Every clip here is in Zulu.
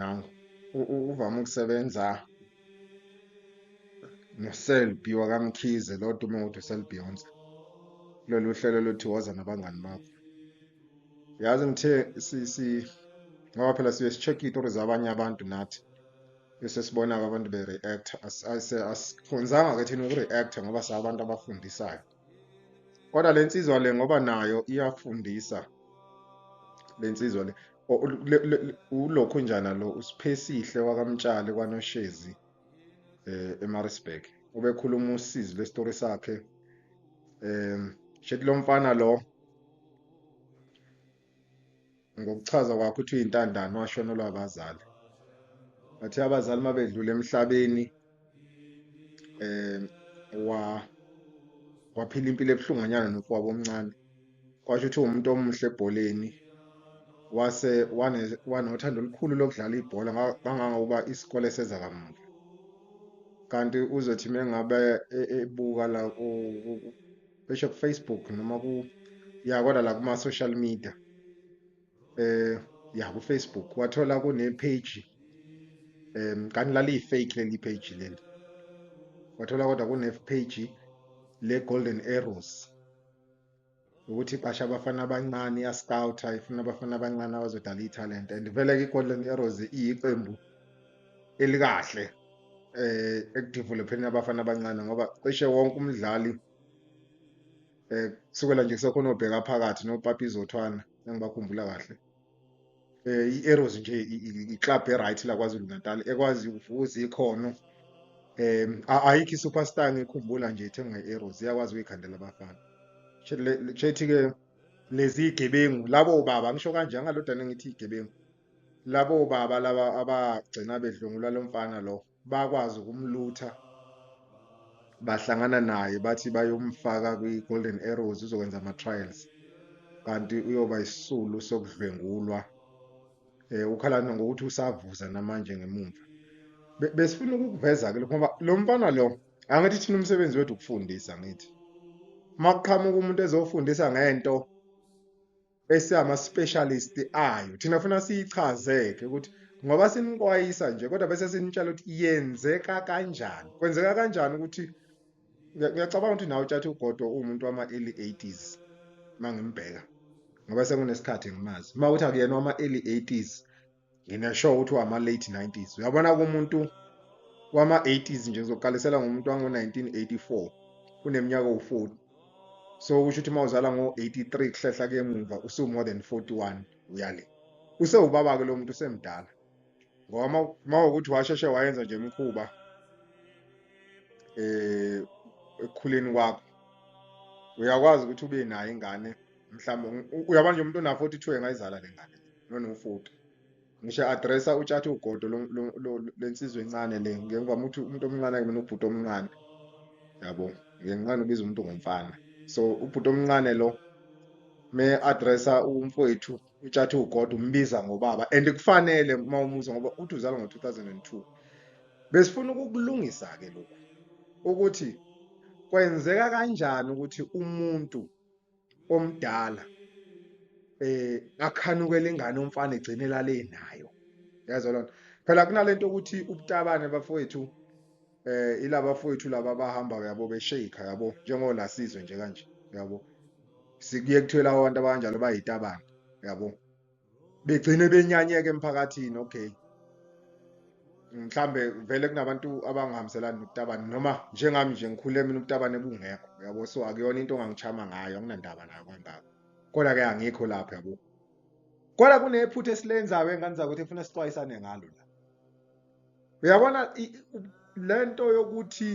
Now uvama ukusebenza noselbi wakamkhize lo dume ukuthi uselbeyonce kulolu hlelo lothi woza nabangani bakho yazi ngithe si ngoba phela siye si-check iy'tori zabanye abantu nathi bese sibona-ke abantu be-react asikhonzanga-ke thina uku-react ngoba siabantu abafundisayo kodwa le nsizwa le ngoba nayo iyafundisa le nsizwa le ulokhu njana lo usiphesihle wakamtshali kwanoshezi eh eMaritzburg ubekhuluma usizi lesitori sakhe um shethi lomfana lo ngokuchaza kwakho uthi uyintandane washonelwa abazali bathe abazali mabedlula emhlabeni eh wa waphila impilo ebuhlunganyana nofowabo omncane kwasho ukuthi umuntu omuhle ebholeni wase wanothando olukhulu lokudlala ibhola kangangokuba isikole seza kamuva kanti uzothi mengabe e, ebuka la besho kufacebook noma ku ya kodwa la kuma-social media eh ya kufacebook wathola kune-page um kanti laliyi-fake leli page leli wathola kodwa kune-page le-golden arrows ukuthi basha abafana abancane iyascouta ifuna abafana abancane abazodala ithalente and vele-ke i-golden arrows iyiqembu elikahle eh ekudevelopheni abafana abancane ngoba cishe wonke umdlali eh kusukela nje kusekhona obheka phakathi noPapi Zothwana engibakhumbula kahle eh i-Arrows nje i-club e-right la KwaZulu Natal ekwazi ukuvuza ikhono um ayikho i-superstar ngikhumbula nje ithengwa i-Arrows iyakwazi ukuyikhandela abafana chethi-ke lezi gebengu labo baba ngisho kanje angalodana ngithi igebengu labo baba laba abagcina bedlwengula lo mfana lo bakwazi ukumlutha bahlangana naye bathi bayomfaka kwi-golden arrows uzokwenza ama-trials kanti uyoba isisulu sokudlwengulwa um ukhalana ngokuthi usavuza namanje ngemumva besifuna ukukuveza-ke lokho ngoba lo mfana lo angithi thina umsebenzi wethu ukufundisa ngithi uma kuqhamuka umuntu ezofundisa ngento esama specialist ayo thina funa siyichazeke ukuthi ngoba sinixwayisa nje kodwa bese sinitshela ukuthi yenzeka kanjani kwenzeka kanjani ukuthi ngiyacabanga ukuthi nawe utshathe ugodo uwumuntu wama-early 80s uma ngimbheka ngoba sekunesikhathi ngimazi uma ukuthi akuyena wama-early 80s nginesho ukuthi wama late 90s uyabona kumuntu wama 80s nje ngizoqalisela ngomuntu wango 1984 kuneminyaka u40 so usho ukuthi mawuzala ngo 83 kuhlehla ke emuva usu more than 41 uyale usewubaba ke lo muntu usemdala ngoba mawukuthi washeshe wayenza nje imikhuba eh ekukhuleni kwakho uyakwazi ukuthi ube nayo ingane mhlawumbe uyabona nje umuntu ona 42 engayizala le ngane nona u40 ngisho addressa utshathe ugodo lensizwe encane le ngemva ukuthi umuntu omncane ke mina ubhuti omncane yabo ngenqana ubiza umuntu ngomfana so ubhuti omncane lo me addressa umfowethu utshathe ugodo umbiza ngobaba and kufanele uma umuza ngoba uthi uzalwa ngo-2002 besifuna ukukulungisa ke lokhu ukuthi kwenzeka kanjani ukuthi umuntu omdala eh akhanukele ingane umfana egcine lale nayo yazo lona phela kunalento ukuthi ubutabane bafowethu eh ilaba fowethu laba bahamba yabo beshake yabo njengolasizwe nje kanje yabo sikuye kuthiwa labo bantu abanjalo bayitabane yabo begcine benyanyeka emphakathini okay mhlambe vele kunabantu abangahambiselani nokutabane noma njengami nje ngikhule mina ukutabane kungekho yabo so akuyona into ongangichama ngayo anginandaba nayo kangako kodwa ke angikho lapho yabo kodwa kunephutha esilenzayo engane zakwethu efuna sixwayisane ngalo la uyabona le nto yokuthi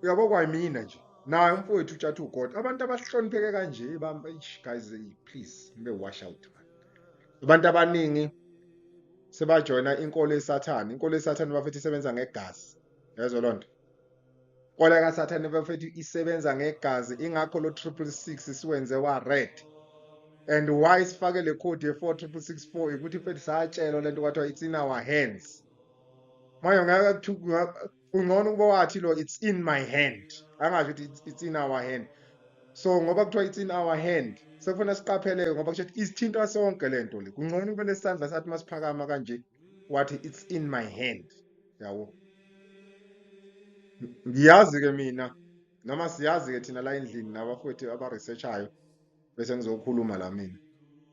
uyabo kwayimina nje naye umfowethu utshatha ugod abantu abahlonipheke kanje guys please nibe wash out abantu abaningi sebajoyina inkolo yesathane inkolo yesathane bafethu isebenza ngegazi yezwa loo nto Ola kaSathane bafethu isebenza ngegazi ingakho lo 666 siwenze wa red. And why sifake le code ye 4664 ukuthi mfethu satshelwa lento kwathiwa it's in our hands. Manje ngeke kungcono ukuba wathi lo it's in my hand. Angasho ukuthi it's in our hand. So ngoba kuthiwa it's in our hand sekufanele siqapheleke ngoba kusho ukuthi isithinta sonke lento le. Kungcono kube nesandla sathi masiphakama kanje. wathi it's in my hand yabo ngiyazi ke mina noma siyazi ke thina la endlini nabafowethu abaresearchayo bese ngizokhuluma la mina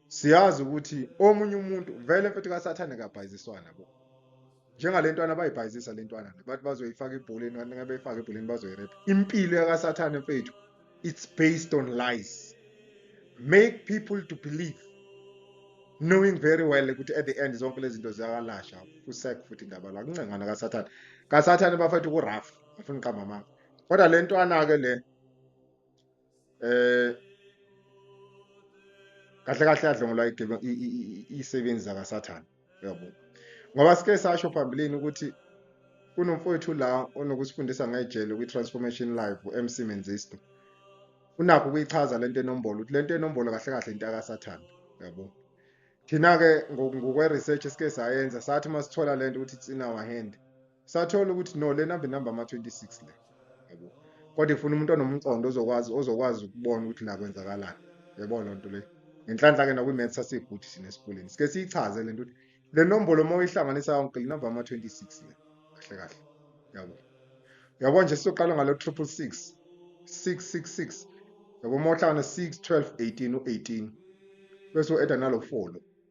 siyazi ukuthi omunye umuntu vele mfethu kasathane kabhayiziswana bo njengalentwana bayibhayizisa lentwana bathi bazoyifaka ibholeni kanti ngabe ifaka ebholeni bazoyirepa impilo yakasathane mfethu it's based on lies make people to believe knowing very well ukuthi at the end zonke lezi zinto ziyawalasha usek futhi indaba la kuncengana kasathane kasathane bafethu kurafu afuna uqamba amanga kodwa le ntwana-ke le eh kahle kahle yadlongolwa isebenzi zakasathane yabo ngoba sike sasho phambilini ukuthi kunomfowethu la onokusifundisa ngejele kwi-transformation live u-mc menzisto unakho ukuyichaza le nto enombolo ukuthi le nto enombolo kahle kahle into akasathanda yabo thina-ke ngokwe-research esike sayenza sathi uma sithola le nto ukuthi it's in our hand sathola ukuthi no lena be number ama 26 le yabo kodwa ifuna umuntu onomqondo ozokwazi ozokwazi ukubona ukuthi la kwenzakalani yabo lo nto le ngenhlanhla ke nakwi maths asiguthi sine esikoleni sike siyichaze lento ukuthi le nombolo uma uyihlanganisa yonke le number ama 26 le kahle kahle yabo yabo nje sizoqala ngalo 666 666 yabo uma uhlanganisa 6 12 18 u18 bese u-eda nalo 4 lo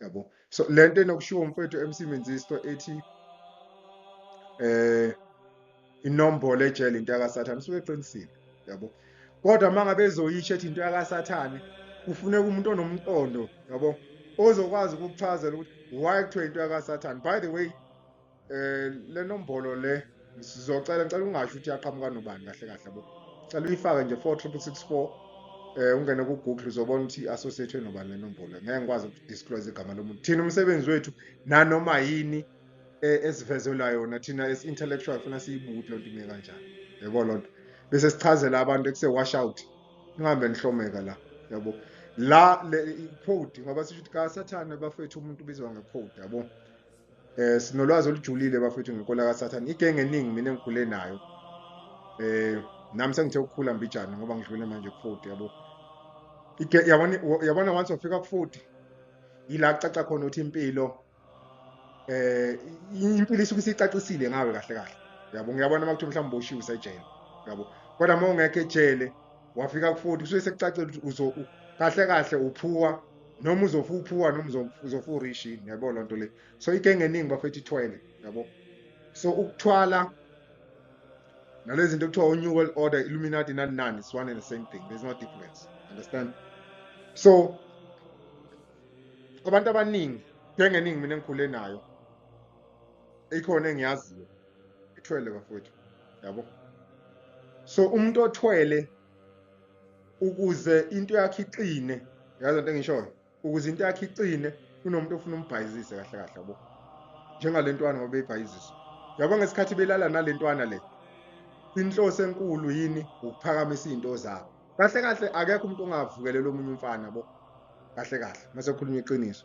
yabo so lento enokushiwo umfethu MC Menzisto ethi eh inombolo ejele into yakasathane usuke eqinisile yabo kodwa mangabe ezoyisho ethi into yakasathane kufuneka umuntu onomqondo yabo ozokwazi ukukuchazela ukuthi why kuthiwa into yakasathane by the way Eh le nombolo le sizocela ngicela ungasho ukuthi yaqhamuka nobani kahle kahle bo. Cela uyifake nje 46664 eh ungene ku Google uzobona ukuthi associated nobani le nombolo. Ngeke ngikwazi uku disclose igama lomuntu. Thina umsebenzi wethu nanoma yini eh, esivezelwa yona thina as intellectual funa siyibuthi lonto ime kanjani. Yebo lonto. Bese sichazela abantu ekuse wash out. Ngihambe nihlomeka la. Yabo. La le code ngoba sisho ukuthi ka sathane bafethu umuntu ubizwa nge code yabo. eh sinolwazi olujulile bafethu ngenkolo kaSathane igenge eningi mina engikhule nayo eh nami sengithe ukukhula mbijana ngoba ngidlule manje ku-40 yabo yabona yabona once wafika ku-40 yila kucaca khona ukuthi impilo eh impilo isuke isicacisile ngawe kahle kahle yabo ngiyabona uma kuthiwa mhlawumbe uboshiwe usejele yabo kodwa uma ungekho ejele wafika ku-40 kusuke sekucacela ukuthi kahle kahle uphuwa noma uzofa uphuwa noma uzofa urish yini yabo loo nto le so into engeningi bafethu ithwele yabo so ukuthwala nalezi zinto kuthiwa u-new world order illuminati nani nani it's one and the same thing there's no difference understand so abantu abaningi njengeningi mina engikhule nayo ikhona engiyaziyo ithwele bafowethu yabo so umuntu othwele ukuze into yakhe iqine yazi into engishoyo ukuze into yakhe iqine kunomuntu ofuna umbhayizise kahle kahle yabo njengalentwana ngoba beyibhayizisa yabo ngesikhathi belala nalentwana le inhloso enkulu yini ukuphakamisa izinto zabo kahle kahle akekho umuntu ongavukelela omunye umfana bo kahle kahle mase khuluma iqiniso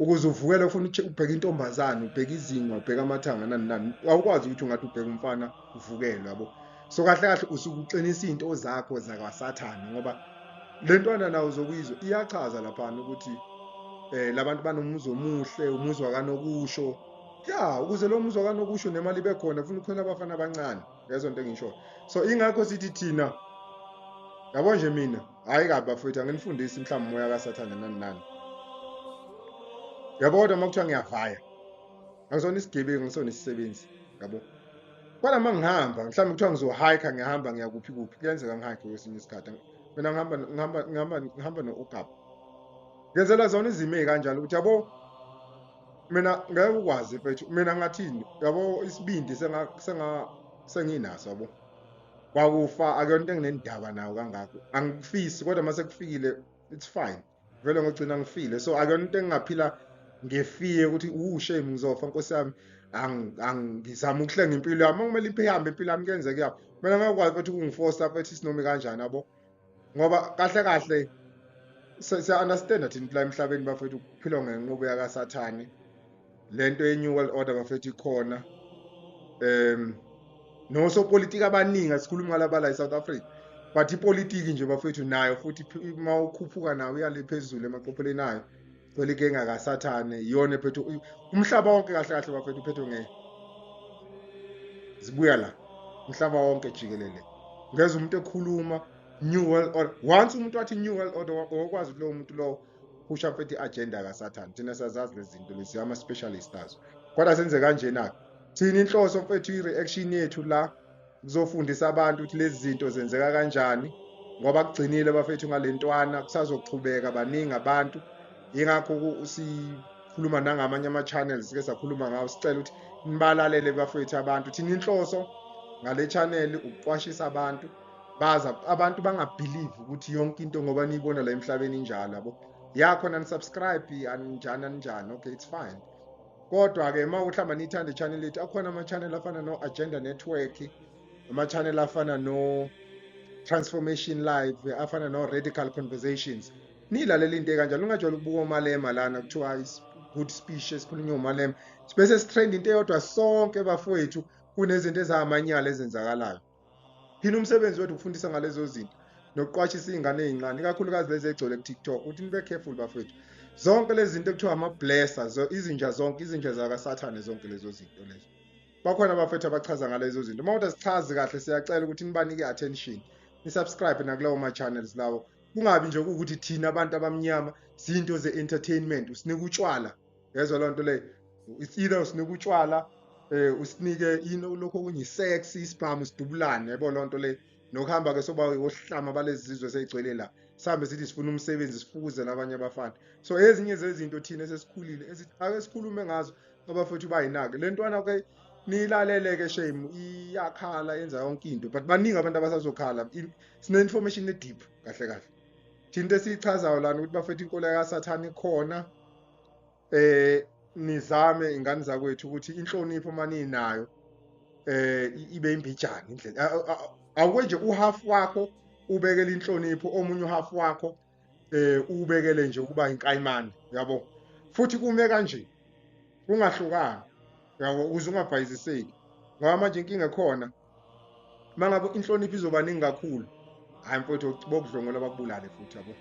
ukuze uvukele ufuna ubheka intombazane ubheka izinga ubheka amathanga nani nani awukwazi ukuthi ungathi ubheka umfana uvukele yabo so kahle kahle usuke uqinisa into zakho zakwasathane ngoba le ntwana nawo uzokuyizwa iyachaza laphana ukuthi eh labantu banomuzi omuhle umuzi wakanokusho ya ukuze lo muzi wakanokusho nemali ibe khona funa ukhona abafana abancane yezwa into engishoyo so ingakho sithi thina yabo nje mina hhayi kabi bafowethu anginifundisi mhlawumbe umoya kasathane nani nani yabo kodwa uma kuthiwa ngiyavaya angisona isigebengu ngisona isisebenzi yabo kodwa uma ngihamba mhlawumbe kuthiwa ngizohayikha ngiyahamba ngiyakuphi kuphi kuyenzeka ngihayikhe kwesinye isikhathi mina ngihamba ngihamba ngihamba ngihamba no-okap ngenzela zona izimo ey'kanjalo ukuthi yabo mina ngeke ukwazi mfethu mina ngathini yabo isibindi senga senga senginaso yabo kwakufa akuyona into enginendaba nayo kangako angikufisi kodwa mase kufikile it's fine vele ngogcina ngifile so akuyona into engingaphila ngefie ukuthi u shame ngizofa nkosi yami angizama ukuhlenga impilo yami kumele ihambe impilo yami kuyenzeka yabo mina ngakwazi ukuthi kungifosta mfethu isinomi kanjani yabo ngoba kahle kahle siya-understanda thina kula emhlabeni bafethu kuphilwa ngenqubo yakasathane le nto ye-new world order bafethu ikhona um nosopolitiki abaningi asikhulumi ngalabala e-south africa but ipolitiki nje bafethu nayo futhi uma ukhuphuka nayo uyale phezulu emaqopheleni ayo Well inkinga kaSathane iyona ephethe umhlaba wonke kahle kahle bafethu uphethwe nge zibuya la umhlaba wonke jikelele ngeze umuntu ekhuluma new world order once umuntu wathi new world order wakwazi kulowo muntu lowo kusha mfethu i-agenda kasathane thina sazazi lezi zinto lezi ama-specialist azo kodwa senze kanjena-ke thina inhloso mfethu i-reaction yethu la kuzofundisa abantu ukuthi lezi zinto zenzeka kanjani ngoba kugcinile bafethu ngalentwana kusazoqhubeka baningi abantu yingakho sikhuluma nangamanye ama-channels ke sakhuluma ngawo sicela ukuthi nibalalele bafethu abantu thina inhloso ngale channel ukuqwashisa abantu baza abantu bangabhilivi ukuthi yonke into ngoba niyibona la emhlabeni injalo yabo ya khona nisubscribe aninjani aninjani okay it's fine kodwa-ke uma ukuthi hamba niyithanda i-channel yethu akhona ama-channel afana no-agenda network ama-channel afana no-transformation live afana no-radical conversations niyilalela into ekanjalo ungajwayela ukubuka omalema lana kuthiwa good speech esikhulunywa umalema sibese sithrenda into eyodwa sonke bafowethu kunezinto ezamanyala ezenzakalayo yini umsebenzi wethu ukufundisa ngalezo zinto nokuqwashisa iy'ngane ey'ncane ikakhulukazi lezi egcwele ku-tiktok ukuthi nibe careful bafethu zonke lezi zinto ekuthiwa ama-blesser izinja zonke izinja zakasathane zonke lezo zinto lezo bakhona abafethu abachaza ngalezo zinto uma kodwa sichazi kahle siyacela ukuthi nibanike i-attention nisubscribe nakulawo ma-channels lawo kungabi nje kuwukuthi thina abantu abamnyama zinto ze-entertainment usinika utshwala yezwa loo nto leyo it's either usinika utshwala um usinike into lokhu okunye isex isibhamu sidubulane yebo loo nto leyo nokuhamba-ke soba wohlama balezi zizwe seyigcwele la sihambe sithi sifuna umsebenzi sifukuze nabanye abafana so ezinye zezinto thina esesikhulile ake sikhulume ngazo abafethu bayinake le ntwana ke nilaleleke shame iyakhala yenza yonke into but baningi abantu abasazokhala sine-information e-deep kahle kahle into esiyichazayo lana ukuthi bafethu inkolo yakasathane ikhona eh nizame ingane zakwethu ukuthi inhlonipho maninayo eh ibe imbijana indlela awuke nje uhalf wakho ubekele inhlonipho omunye uhalf wakho eh ubekele nje ukuba inkayimane yabo futhi kume kanje kungahlukani yabo uze ungabhayiziseki ngoba manje inkinga khona uma ngabe inhlonipho izoba ningi kakhulu hhayi mfowethu bokudlongola bakubulale futhi yabo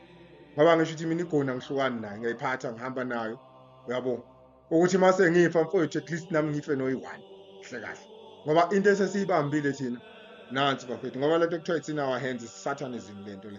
ngoba ngisho ukuthi mina igona ngihlukani nayo ngiyayiphatha ngihamba nayo uyabo ukuthi uma sengifa mfowethu at least nami ngife noyi-one hle kahle ngoba into esesiyibambile thina nansi bafethu ngoba lento kuthiwa it's in our hands isathane izini lento le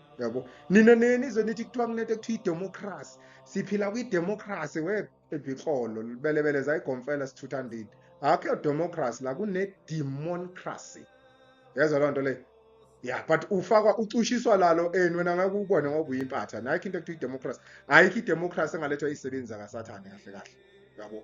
yabo nina nenizwe nithi kuthiwa kunento ekuthiwa idemocracy siphila kwidemocracy webhixolo belebele zayigomfela sithutha ndini akho democracy la kunedemoncracy yezwa loo nto leyo ya but ufakwa ucushiswa lalo eni wena ngeke ukubone ngoba uyimpatha nakho into ekuthiwa idemocracy ayikho idemocracy engalethwa izisebenzi zakasathane kahle kahle yabo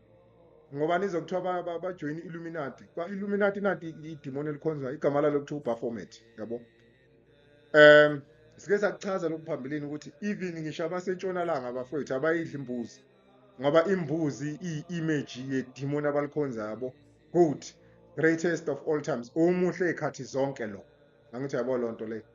ngoba nizokuthiwa bajoyina i-illuminati kwa-illuminati nati idimoni elikhonzwa igama lalo kuthiwa ubaformat yabo um sike sakuchaza lokhu phambilini ukuthi even ngisho abasentshonalanga abafowethu abayidli imbuzi ngoba imbuzi iyi-image yedimoni abalikhonza yabo good greatest of all times umuhle ey'khathi zonke lo angithi yabo loo nto leyo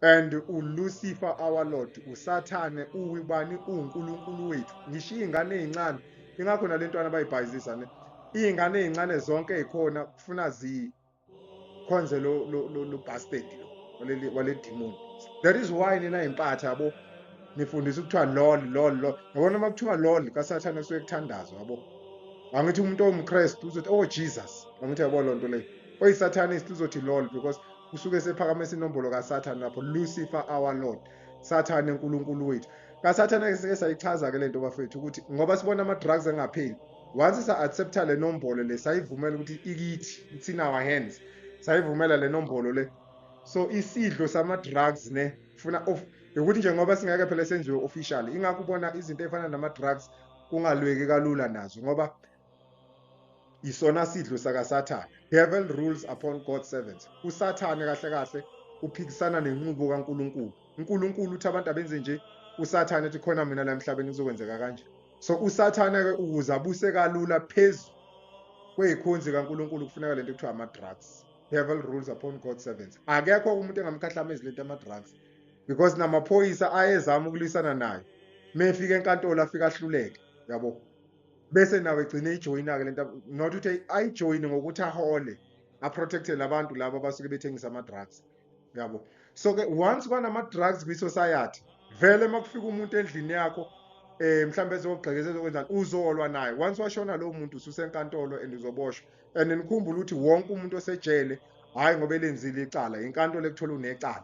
and ulucifer our lord usathane uwibani uwunkulunkulu wethu ngisho iy'ngane ey'ncane ingakho nale ntwana bayibhayizisa ne iy'ngane ey'ncane zonke ey'khona kufuna zikhonze lo, lo, lo, lo bastard lo wale demon that is why nina yimpatha yabo nifundisa ukuthiwa lol lol lol yabona uma kuthiwa lol kasathane kusuke kuthandazwa yabo angithi umuntu owumkrestu uzothi oh jesus angithi yabo loo nto leyo oyisatanist uzothi lol because usuke sephakamisa inombolo kaSathane lapho Lucifer our Lord Sathane uNkulunkulu wethu kaSathane ke sike sayichaza ke lento bafethu ukuthi ngoba sibona ama drugs angapheli once sa accepta le nombolo le sayivumela ukuthi ikithi it's in our hands sayivumela le nombolo le so isidlo sama drugs ne funa of ukuthi nje ngoba singeke phela senziwe official ingakho ubona izinto efana nama drugs kungalweki kalula nazo ngoba isona sidlo sakasathane devil rules upon god's servants usathane kahle kahle uphikisana nenqubo kaNkuluNkulu uNkuluNkulu uthi abantu abenze nje usathane ethi khona mina la emhlabeni kuzokwenzeka kanje so usathane ke ukuze abuse kalula phezu kweyikhonzi kaNkuluNkulu kufuneka lento ekuthiwa ama drugs devil rules upon god's servants akekho umuntu engamkhahlamezi lento ama drugs because namaphoyisa ayezama ukulwisana nayo mefika enkantolo afika ahluleke yabo bese nawe egcine ijoyina-ke le nto not ukuthi ayijoyine ngokuthi ahole aprotecte labantu laba abasuke bethengisa ama-drugs yabo so-ke once kwanama-drugs kwi-society vele uma kufika umuntu endlini yakho eh mhlawumbe ezogxekeza ezokwenzani uzolwa naye once washona lowo muntu ususenkantolo and uzoboshwa and nikhumbule ukuthi wonke umuntu osejele hhayi ngoba elenzile icala yinkantolo ekuthola unecala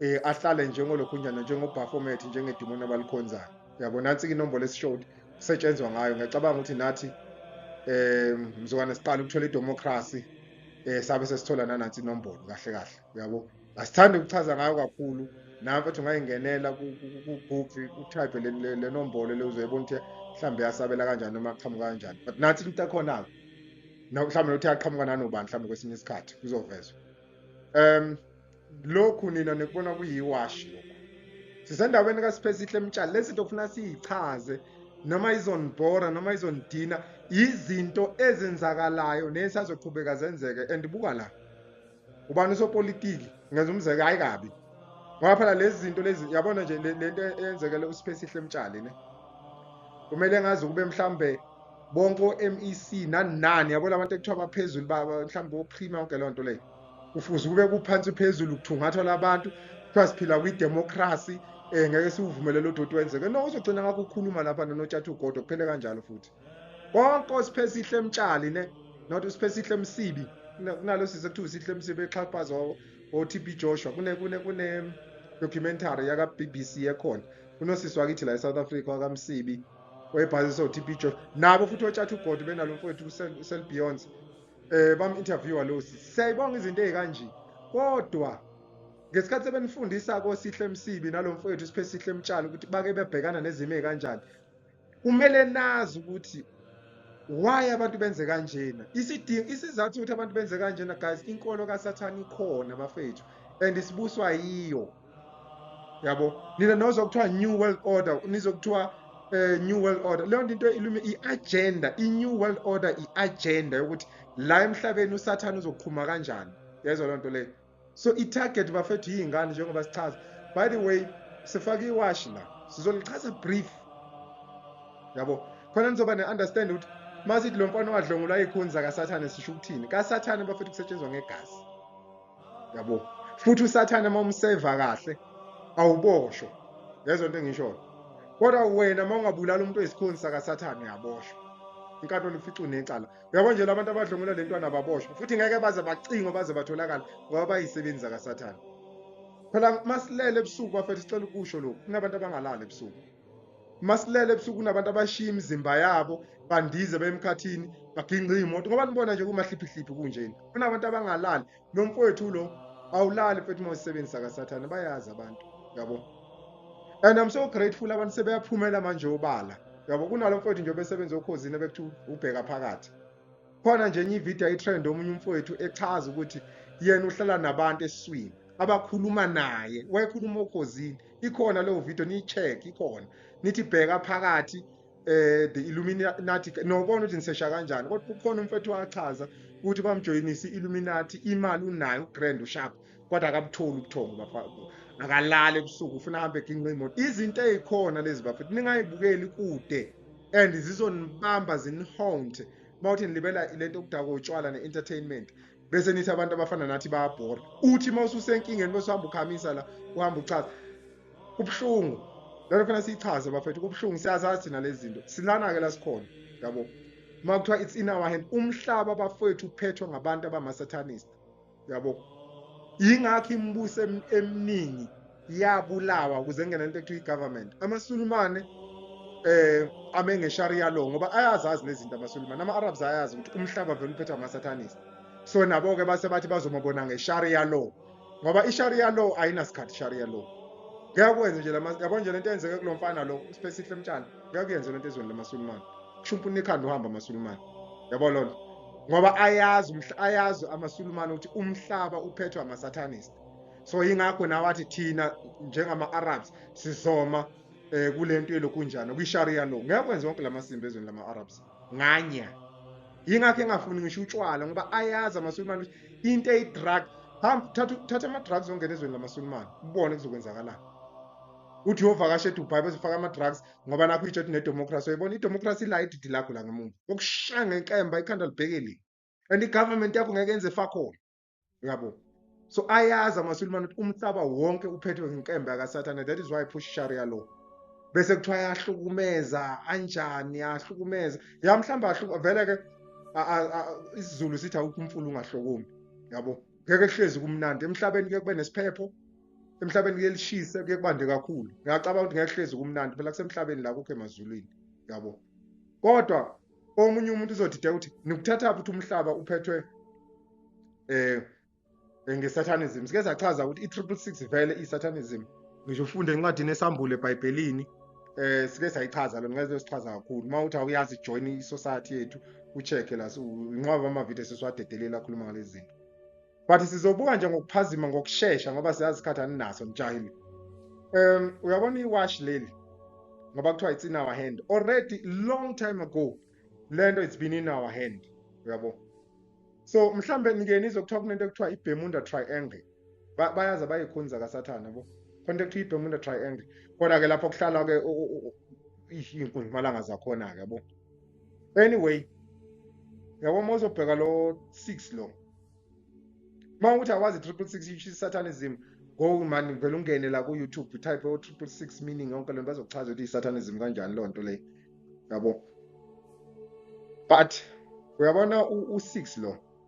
eh ahlale njengolokhunjana njengobaphomet njengedimoni abalikhonzayo yabo nansi inombolo esishowed kusetshenzwa ngayo ngiyacabanga ukuthi nathi eh mzukwana siqala ukuthola idemocracy eh sabe sesithola nanansi inombolo kahle kahle yabo asithandi ukuchaza ngayo kakhulu nawe mfethu ungayingenela kugubhi utype le nombolo le uzoyibona ukuthi mhlawumbe yasabela kanjani noma aqhamuka kanjani but nathi into ekhona-ke mhlawumbe nokuthi aqhamuka nanobani mhlawumbe kwesinye isikhathi kuzovezwa um lokhu nina nikubona kuyiwashi lokhu sisendaweni kaSiphesihle emtshali lezi zinto kufuna siyichaze noma izonibhora noma izonidina izinto ezenzakalayo nesazoqhubeka zenzeke and buka la ubani usopolitiki ngenza umzeke hayi kabi ngoba phela lezi zinto lezi yabona nje le nto eyenzekele uSiphesihle emtshali ne kumele ngazi kube mhlambe bonke o-MEC nanani yabo labantu ekuthiwa baphezulu mhlawumbe oprima yonke leyo nto leyo kufuze kube kuphansi phezulu kuthungathwa labantu kuthiwa siphila kwidemocracy um ngeke siwuvumelele odoti wenzeke no uzogcina ngakho ukukhuluma lapha nonotshatha ugodo kuphele kanjalo futhi konke osiphe sihle emtshali ne not usiphe sihle emsibi kunalo sise kuthiwa sihle emsibi exhaphaza o-tb joshua kune-documentary yaka-b b c ekhona kunosisi wakithi la e-south africa wakamsibi wayebhazisa o-tb joshua nabo futhi otshatha ugodo benalo mfowethu uselbeyonce eh bam interviewer lo sisi siyayibonga izinto ezikanje kodwa ngesikhathi sebenifundisa kosihle emsibi nalomfowethu siphe sihle emtshalo ukuthi bake bebhekana nezimo ezikanjani kumele nazi ukuthi why abantu benze kanjena isidingo isizathu ukuthi abantu benze kanjena guys inkolo kasathana ikhona bafethu and isibuswa yiyo yabo nina nozokuthiwa new world order nizokuthiwa eh new world order leyo nto into ilume i-agenda i-new world order i-agenda yokuthi la emhlabeni usathane uzoqhuma kanjani yezwa loo nto leyo so i-target bafethu yiy'ngane njengoba sichaza by the way sifake iwashi la sizolichaza brief yabo khona nizoba ne-understand ukuthi masithi lo mfana wadlongulwa ikhuni zakasathane sisho ukuthini kasathane bafethu kusetshenzwa ngegazi yabo futhi usathane uma umseva kahle awuboshwa ngezwa into engishoyo kodwa wena uma ungabulala umuntu oyisikhoni sakasathane uyaboshwa inkantolo ifica unecala uyabo nje labantu abadlungula le ntwana baboshwa futhi ngeke baze bacingo baze batholakala ngoba bayisebenzi zakasathane phela masilele ebusuku bafethu sicela ukusho lokhu kunabantu abangalali ebusuku masilele ebusuku kunabantu abashiya imizimba yabo bandize bemkhathini baginqe iy'moto ngoba nibona nje kumahliphihliphi kunjeni kunabantu abangalali nomfowethu lo awulali mfethu uma usebenzisa kasathane bayazi abantu yabo and i'm so grateful abantu sebeyaphumela manje obala yabo kunalo mfowethu nje obesebenza okhozini ebekuthiwa ubheka phakathi khona nje enye ivideo itrend omunye umfowethu echaza ukuthi yena uhlala nabantu esiswini abakhuluma naye wayekhuluma okhozini ikhona leyo video niyi-check ikhona nithi bheka phakathi eh the illuminati nobona ukuthi nisesha kanjani kodwa kukhona umfethu wachaza ukuthi bamjoyinisa i-illuminati imali unayo ugrand ushap kodwa akabutholi ubuthongo akalali ebusuku ufuna ahambe eginqa imoto izinto ezikhona lezi bafethu ningayibukeli kude and zizonibamba zinihonte mawuthi nilibela lento okudakwa utshwala ne-entertainment bese nithi abantu abafana nathi bayabhora uthi uma ususenkingeni bese uhamba ukhamisa la uhamba uchaza kubuhlungu lento fanele siyichaze bafethu kubuhlungu siyazazi thina lezi zinto silana-ke la sikhona yabo uma kuthiwa it's in our hand umhlaba bafowethu uphethwe ngabantu abamasatanist yabo yingakho imibuso eminingi yabulawa ukuze ngena into ekuthiwa i-government amasulumane eh ame ngesharia law ngoba ayazazi nezinto amasulumane ama-arabs ayazi ukuthi umhlaba vele uphethwa amasathanist so nabo-ke base bathi bazomabona ngesharia law ngoba isharia law ayinasikhathi sharia law ngeke kwenze nje yabo nje lento eyenzeke kulo mfana lo uspesihle mtshana ngeke yenze lento ezweni lamasulumane kusho umpunini ekhanda uhamba amasulumane yabo lona ngoba ayazi ayazi amasulumane ukuthi umhlaba uphethwe amasatanist so yingakho nawe athi thina njengama-arabs sizoma um kule nto elokunjani kwi-sharia law ngeke kwenze wonke la masimba ezweni lama-arabs nganya yingakho engafuni ngisho utshwala ngoba ayazi amasulumane ukuthi into eyi-drug hamba thatha ama-drugs ongena ezweni lamasulumane ubone kuzokwenzakalani uthi uyovakasha edubai bezofaka ama-drugs ngoba nakho itsho ukuthi nedemocracy uyibona idemocracy la ididi lakho la ngemuva okushaya ngenkemba ikhanda libhekeli and i-government yakho ngeke yenze fakhona uyabo so ayazi amasulimane ukuthi umhlaba wonke uphethwe ngenkemba yakasathane that is why push sharia law bese kuthiwa ayahlukumeza anjani ahlukumeza ya mhlawumbe vele ke isizulu sithi awukho umfula ungahlokumi yabo ngeke kuhlezi kumnandi emhlabeni kuye kube nesiphepho emhlabeni kuyelishisa kuye kubande kakhulu ngiyacabanga ukuthi ngiyahlezi kumnandi phela kusemhlabeni la kukho emazulwini yabo kodwa omunye umuntu uzodideka ukuthi nikuthatha ukuthi umhlaba uphethwe eh ngesatanism sike sachaza ukuthi i-triple six vele i-satanism ngisho ufunde encwadini esambule ebhayibhelini eh sike sayichaza lo ngeke sichaza kakhulu uma uthi awuyazi join i-society yethu u-check la inqwaba amavidiyo sesiwadedelela akhuluma ngalezi zinto but sizobuka nje ngokuphazima ngokushesha ngoba siyazi isikhathi aninaso nijahile um uyabona iwash leli ngoba kuthiwa it's in our hand already long time ago le nto it's been in our hand uyabo so mhlawumbe nike nizokuthiwa kunento ekuthiwa i-bermuda triangle bayazi abayikhonza kasathane bo khona into ekuthiwa i-bermuda triangle kodwa-ke lapho kuhlala-ke iy'nkunzimalanga zakhona-ke bo anyway yabo uma uzobheka lo 6 lo uma ukuthi awazi 666 which is satanism go mani vele ungene la ku-youtube type o 666 meaning yonke lento bazokuchaza ukuthi i-satanism kanjani loo nto leyo yabo but uyabona u-6 lo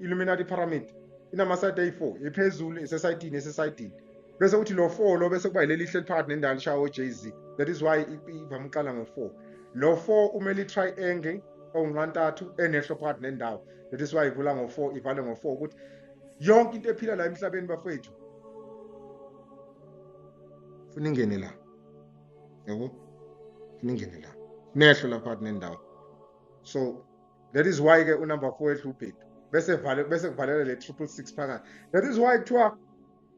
illuminati pyramid inamasayidi ayi-four ephezulu esesayidini esesayidini bese uthi lo four lo bese kuba yileli ihleli phakathi nendawo lishawa o-j z that is why ivame ukuqala ngo-four lo four umele i-triangle onqantathu enehlo phakathi nendawo that is why ivula ngo-four ivale ngo-four ukuthi yonke into ephila la emhlabeni bafethu funa ingene la yabo funa ingene la nehlo la phakathi nendawo so that is why ke unumber 4 edla ubhedu bese vale bese kuvalela le 666 phakathi that is why kuthiwa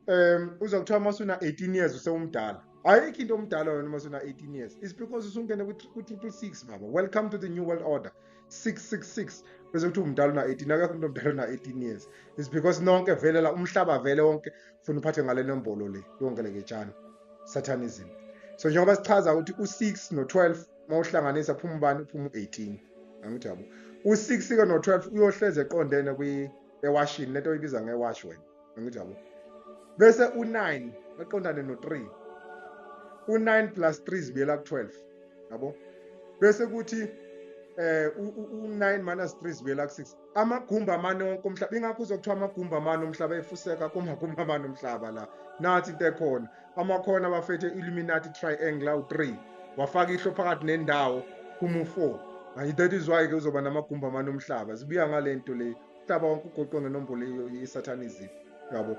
um uza kuthiwa masuna 18 years usewumdala ayikho into omdala wena masuna 18 years is because usungene ku 666 baba welcome to the new world order 666 bese kuthi umdala una 18 akekho umuntu omdala una 18 years is because nonke vele la umhlaba vele wonke ufuna uphathe ngale nombolo le yonke le ketshana satanism so njengoba sichaza ukuthi u6 no12 mawuhlanganisa phuma ubani phuma u18 angithi yabo u-six ke no-twelve uyohlezi eqondene ewashini lento oyibiza ngewashi wena angithi yabo bese u-nine eqondane no-three u-nine plus three zibuyela ku-twelve yabo bese kuthi eh u9 minus 3 zibuyela ku6 amagumba amane wonke umhlaba ingakho uzokuthiwa amagumba amane umhlaba efuseka kumagumba amane umhlaba la nathi into ekhona amakhona bafethe illuminati triangle awu-3 wafaka ihlo phakathi nendawo kumu 4 manje that is why-ke uzoba namagumba amane omhlaba zibuya ngale nto le umhlaba wonke ugoqwe ngenombolo yesatanism yabo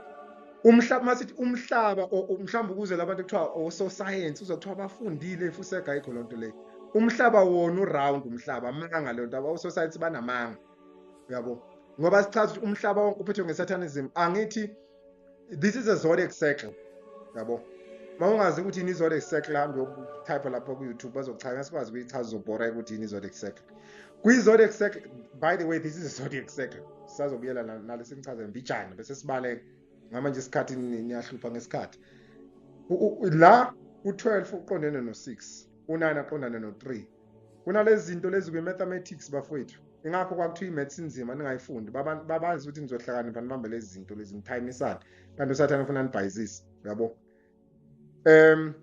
umhlaba masithi umhlaba mhlawumbe ukuze labantu kuthiwa ososayensi uza kuthiwa bafundile ifusega ayikho loo nto leyo umhlaba wona uround umhlaba amanga leyo nto ososayensi banamanga yabo ngoba sichaza ukuthi umhlaba wonke uphethwe ngesatanism angithi this is a zodiac circle yabo uma ungazi ukuthi yini izodiac circle hambe yokutype lapho ku-youtube bazokuchaza sikwazi ukuyichaza uzobhora ukuthi yini izodiac circle kwi-zodiac circle by the way this is a zodiac circle sisazobuyela nalo sinichaze mbijana bese sibaleka ngama nje isikhathi niyahlupha ngesikhathi la u-12 uqondene no-6 u-9 aqondane no-3 kunalezi zinto lezi kwi-mathematics bafowethu ingakho kwakuthiwa i-maths inzima ningayifundi babazi ukuthi nizohlakanipha nibambe lezi zinto lezi nithayimisane kanti usathane ufuna nibhayizise uyabo um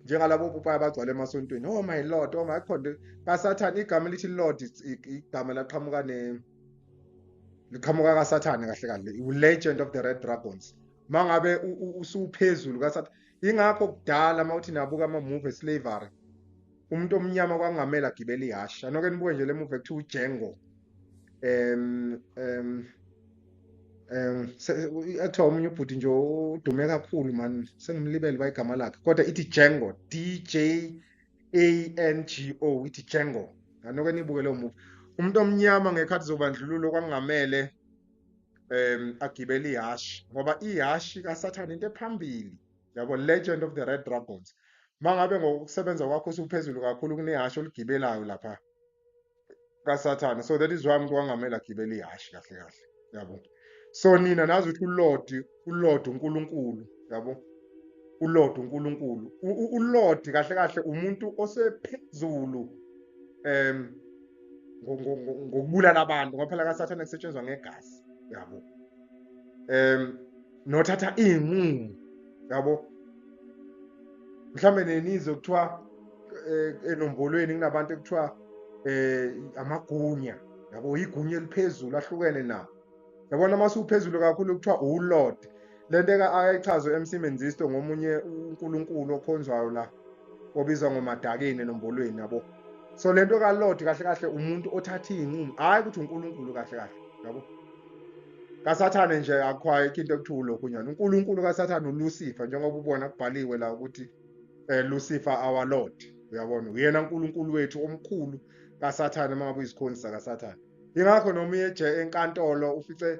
njengalabo popayi abagcwala emasontweni oh my lord oh my khonde kasathane igama elithi lord igama laqhamuka ne liqhamuka kasathane kahle kahle i-legend of the red dragons mangabe usuphezulu kasathane ingakho kudala uma uthi nabuka ama-move eslavery umuntu omnyama kwangamele agibele ihhashi anoke nibuke nje le move ekuthiwa ujengo um um um ekuthiwa omunye ubhuti nje udume kakhulu mani sengimlibele bayigama lakhe kodwa ithi jengo d j a n g o ithi jengo anoke nibuke leyo move umuntu omnyama ngekhathi zobandlululo kwangamele um agibele ihashi ngoba ihashi kasathane into ephambili yabo legend of the red dragons uma ngabe ngokusebenza kwakho usuphezulu kakhulu kunehhashi oligibelayo lapha kasathane so that is why umuntu wangamele agibele ihhashi kahle kahle yabo so nina nazi ukuthi ulodi uLord uNkulunkulu yabo uLord uNkulunkulu uLord kahle kahle umuntu osephezulu em ngokubulala abantu ngoba phela kaSathane kusetshenzwa ngegazi yabo em nothatha izinqumo yabo mhlambe nenizwe kuthiwa eh, enombolweni kunabantu ekuthiwa eh amagunya yabo igunya eliphezulu ahlukene nabo yabona uma siwuphezulu kakhulu kuthiwa uwulord le nto ayichazwe emsimenzisto ngomunye unkulunkulu okhonzwayo la obizwa ngomadakeni enombolweni yabo so le nto kalord kahle kahle umuntu othatha iy'nqumo hhayi ukuthi unkulunkulu kahle kahle yabo kasathane nje akhwayikho into ekuthiwa ulokhunyana unkulunkulu kasathane ulusifa njengoba ubona kubhaliwe la ukuthi um lusifa our lord uyabona uyena nkulunkulu wethu omkhulu kasathane uma ngabe uyizikhonzi sakasathane yingakho noma uyeje enkantolo ufice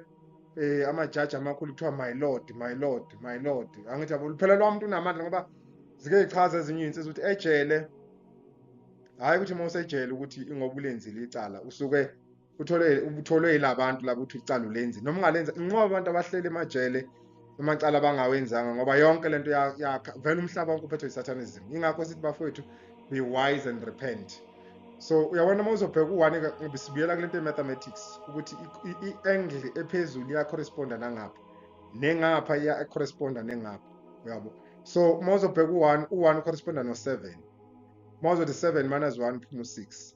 eh amajaji amakhulu kuthiwa my lord my lord my lord angithi yabo luphela lwamuntu unamandla ngoba zike zichaza ezinye izinsizwa ukuthi ejele hayi ukuthi uma usejele ukuthi ingoba ulenzile icala usuke uthole utholwe yilabantu labo uthi ucala ulenzi noma ungalenza inqoba abantu abahlele emajele amacala abangawenzanga ngoba yonke lento yakha vele umhlaba wonke uphethwe isatanism ingakho sithi bafowethu be wise and repent so uyabona uma uzobheka u-one sibuyela kule nto ye-mathematics ukuthi i-angle ephezulu iyacorresponda nangapha nengapha iyacorresponda nengapha uyabo so uma uzobheka u-one u-one ucorresponda no-seven uma uzothi seven minus one phuma u-six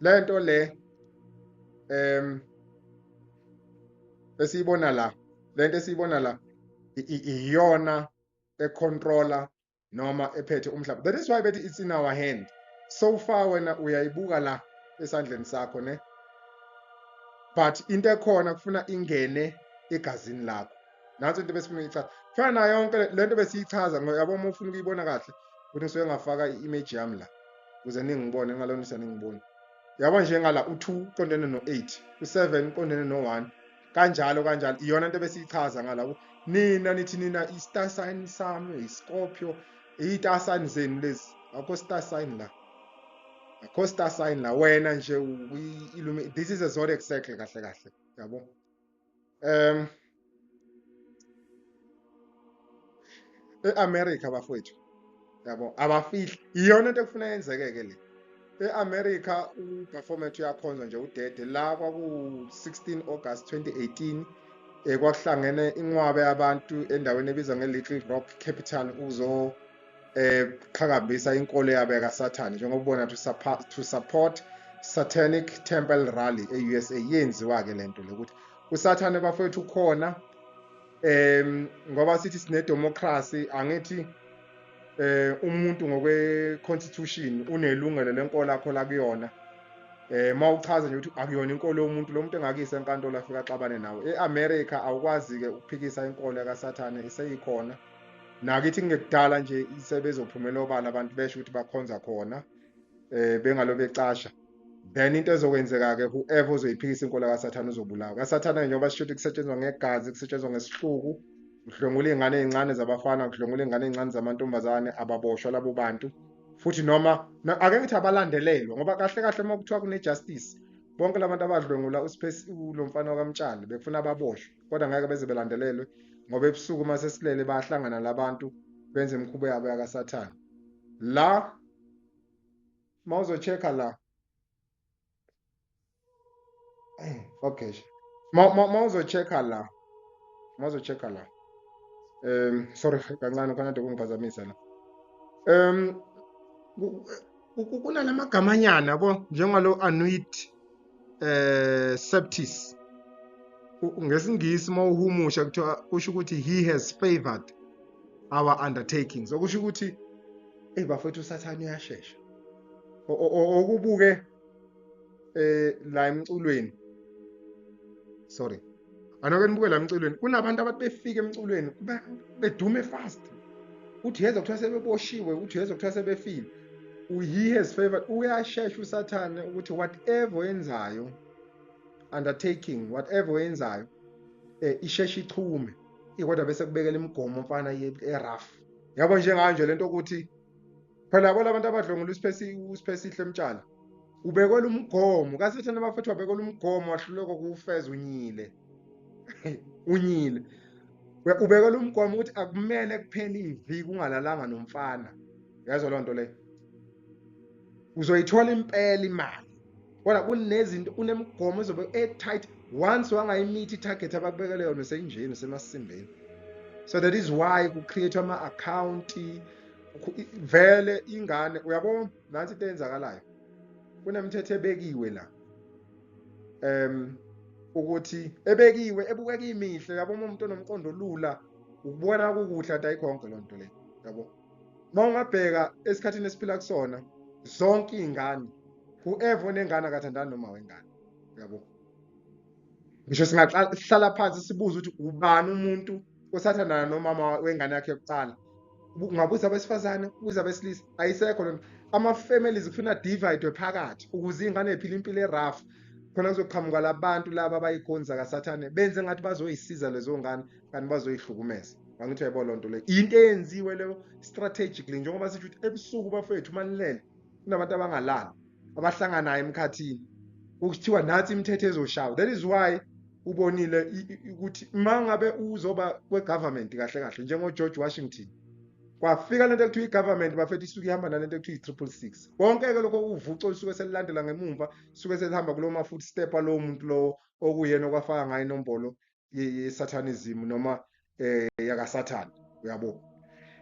lento le em esiyibona la lento esiyibona la iyona econtroller noma ephethe umhlaba that is why bethi it's in our hand so far wena uyayibuka la esandleni sakho ne but into ekhona kufuna ingene egazini lakho nansi into besifuna uyichaza kufana nayo yonke le nto besiyichaza yabo uma ufuna ukuyibona kahle ukuthi ngisuke ngafaka i-image yami la ukuze ningibone ngalonisa ningibone yabo njengala u-two uqondene no-eight u-seven uqondene no-one kanjalo kanjalo iyona nto besiyichaza ngala nina nithi nina i-star sign sami yi-scorpio iyi-star sign zenu lezi akho star sign la akho star sign la wena nje this is a zodiac circle kahle kahle yabo um e-america bafowethu yabo abafihli iyona into ekufuna yenzeke-ke le e-america uperformant uyakhonza nje udede la kwaku-16 august 2018 um kwakuhlangene inqwabe yabantu endaweni ebizwa nge-little rock capital ukuzo eqhakambisa eh, inkolo yabo yakasathane njengoba ubona to support, to support satanic temple rally e-usa yenziwa-ke le nto le ukuthi usathane bafowethu ukhona um ngoba sithi sinedemokhrasi angithi eh umuntu ngokwe-constitution unelungelo lenkolo akho la kuyona eh uma uchaza nje ukuthi akuyona inkolo yomuntu lo muntu engakise enkantolo afika axabane nawe e-america awukwazi-ke ukuphikisa inkolo yakasathane iseyikhona nakithi kungekudala nje sebezophumela obala abantu besho ukuthi bakhonza khona eh bengalo becasha then into ezokwenzeka-ke whoever ozoyiphikisa inkolo kasathane uzobulawa kasathane-ke njengoba sisho ukuthi kusetshenzwa ngegazi kusetshenzwa ngesihluku kudlwengula iy'ngane ey'ncane zabafana kudlwengula iy'ngane ey'ncane zamantombazane ababoshwa labo bantu futhi noma ake ngithi abalandelelwa ngoba kahle kahle uma kuthiwa kune-justice bonke la bantu abadlwengula lo mfana wakamtshali bekufuna ababoshwe kodwa ngeke beze belandelelwe ngoba ebusuku uma sesilele bayahlangana labantu benze imikhubo yabo yakasathane la uma uzochecka la eh, okay uma uzochecka la uma uzochecka la um sorry kancane khona de kungiphazamisa la um kunala magamanyana yabo njengalo anuit eh septis ngesingisi uma uhumusha kuthiwa kusho ukuthi he has favored our undertakings okusho ukuthi eyi bafethu usathane uyashesha okubuke eh la emculweni sorry anoke nibuke la emculweni kunabantu abathi befika emculweni bedume fast uthi yeza kuthiwa sebeboshiwe uthi yeza kuthiwa sebefile he has favored uyashesha usathane ukuthi whatever oyenzayo undertaking whatever oyenzayo eh isheshe ichume ikodwa bese kubekela imigomo mfana ye-rough yabo njenganje lento ukuthi phela yabo labantu abadlwengula usiphesihle emtshana ubekwela umgomo kasathane abafethu wabekwela umgomo wahluleka kuwufeza unyile unyile ubekwela umgomo ukuthi akumele kuphele iviki ungalalanga nomfana yazo loo nto leyo uzoyithola impela imali kodwa kunezinto kunemigomo ezobe e-tight once wangayimithi i-target abakubekele yona seyinjeni semasimbeni so that is why ku-create-wa ama-akhawunti vele ingane uyabo nansi into eyenzakalayo kunemithetho ebekiwe la um ukuthi ebekiwe ebukeka imihle yabo uma umuntu onomqondo olula ukubona kukuhle ati ayikhonke loo nto leyo yabo uma ungabheka esikhathini esiphila kusona zonke iy'ngane whoever onengane akathandani noma wengane yabo ngisho singahlala phansi sibuze ukuthi ubani umuntu osathandana nomama wengane yakhe yokuqala ungabuza abesifazane ubuza abesilisa ayisekho lona ama-families kufuna dividwe phakathi ukuze iy'ngane y'phile impilo eraf khona kuzoqhamuka labantu laba abayikhonza kasathane benze ngathi bazoyisiza lezo ngane kanti bazoyihlukumeza angithi yayibona loo nto leyo yinto eyenziwe leyo strategically njengoba sisho ukuthi ebusuku bafethu uma nilele kunabantu abangalali abahlanganayo emkhathini ukuthiwa nathi imithetho ezoshawa that is why ubonile ukuthi uma ngabe uzoba kwe-government kahle kahle njengogeorge washington kwafika lento ekuthiwa i-government bafethu isuke ihamba nalento ekuthiwa i-triple six konke-ke lokho uvuco lisuke selilandela ngemumva suke selihamba kulowo ma-footstep alowo muntu lowo okuyena okwafaka ngayo inombolo yesatanism noma eh yakasathane uyabo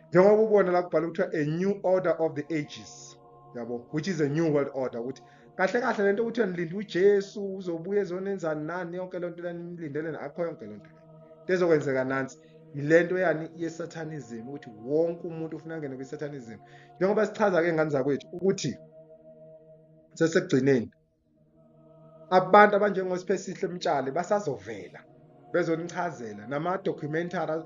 njengoba ubona la kubhala ukuthi a new order of the ages yabo which is a new world order ukuthi kahle kahle lento ukuthi nilinde uJesu uzobuya ezonenzani nani yonke lento lenilindele akho yonke lento lezokwenzeka nansi yilento yani yesatanism ukuthi wonke umuntu ufuna ngene kwisatanism njengoba sichaza ke ngani zakwethu ukuthi sesekugcineni abantu abanjengoSiphesihle Mtshali basazovela bezonichazela nama documentary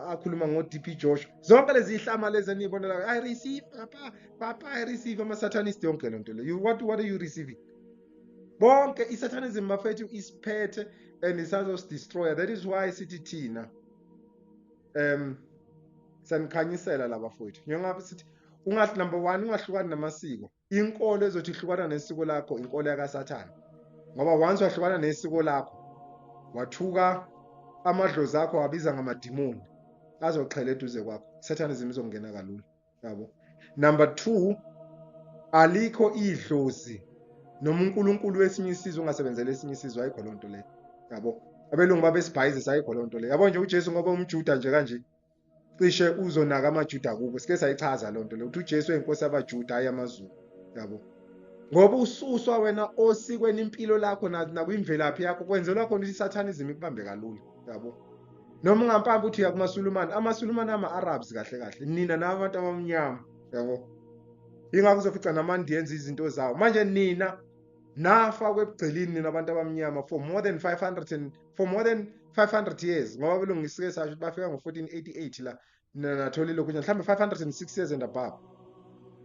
akhuluma ngo DP Josh zonke lezi ihlama lezi enibonela i receive papa papa i receive ama satanist yonke lento le you what what are you receiving bonke i satanism mafethu isiphethe and isazos destroyer that is why sithi thina um sanikhanyisela laba fowethu njengoba sithi ungathi number 1 ungahlukani namasiko inkolo ezothi ihlukana nesiko lakho inkolo yakasathane ngoba once wahlukana nesiko lakho wathuka amadlozi akho wabiza ngamadimoni azoqhela eduze kwakho isathanism izongena kalula yabo number 2 alikho idlozi noma uNkulunkulu wesinye isizwe ungasebenzela esinye isizwe ayikho lonto le yabo abelungu babesibhayizisa ayikho lonto le yabo nje uJesu ngoba umjuda nje kanje cishe uzonaka amaJuda kubo sike sayichaza loo nto le ukuthi uJesu eyinkosi yabaJuda hhayi amaZulu yabo ngoba ususwa wena osikweni impilo lakho nakwimvelaphi yakho kwenzelwa khona ukuthi isathanizimu ikubambe kalula yabo noma ungampambi ukuthi uya kumasulumane amasulumane ama-arabs kahle kahle nina nabo abantu abamnyama yabo yingakho uzofica namandi yenza izinto zawo manje nina nafa kwebugcelini nina abantu abamnyama for more than 500 and for more than 500 years ngoba belungisike sasho ukuthi bafika ngo-1488 la nathola ilokhu nje mhlawumbe 506 years and above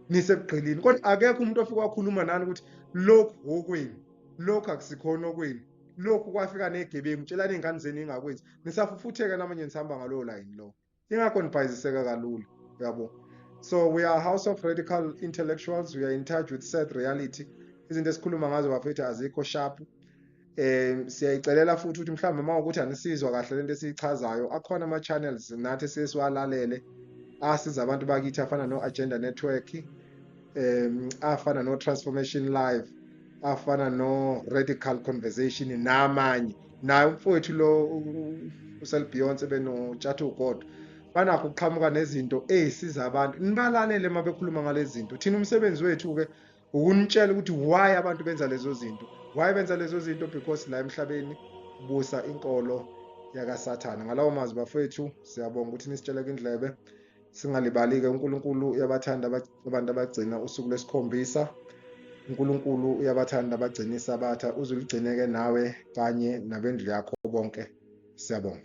nisekugqilini kodwa akekho umuntu ofike wakhuluma nani ukuthi lokhu wokwenu lokhu akusikhona okwenu lokhu kwafika negebengu tshelani iy'ngane zenu ingakwenzi nisafufutheka namanye nisihamba ngalowo layini lowo ingakho nibhayiziseka kalula uyabo so we are house of radical intellectuals we are in touch with sad reality izinto esikhuluma ngazo bafethu azikho sharp um siyayicelela futhi ukuthi mhlawumbe uma ukuthi anisizwa kahle lento esiyichazayo akhona ama-channels nathi esiye siwalalele asiza abantu bakithi afana no-agenda network um afana no-transformation live afana no radical conversation namanye naye umfowethu lo uselbeyonce benotshatha ugodwa banakho ukuqhamuka nezinto ezisiza abantu nibalalele uma bekhuluma ngalezi zinto thina umsebenzi wethu-ke ukunitshela ukuthi why abantu benza lezo zinto why benza lezo zinto because la emhlabeni busa inkolo yakasathane ngalawo mazwi bafowethu siyabonga ukuthi nisitsheleke indlebe singalibali-ke unkulunkulu uyabathanda abantu abagcina usuku lwesikhombisa unkulunkulu uyabathanda abagcina isabatha uzuligcine-ke nawe kanye nabendlu yakho bonke siyabonga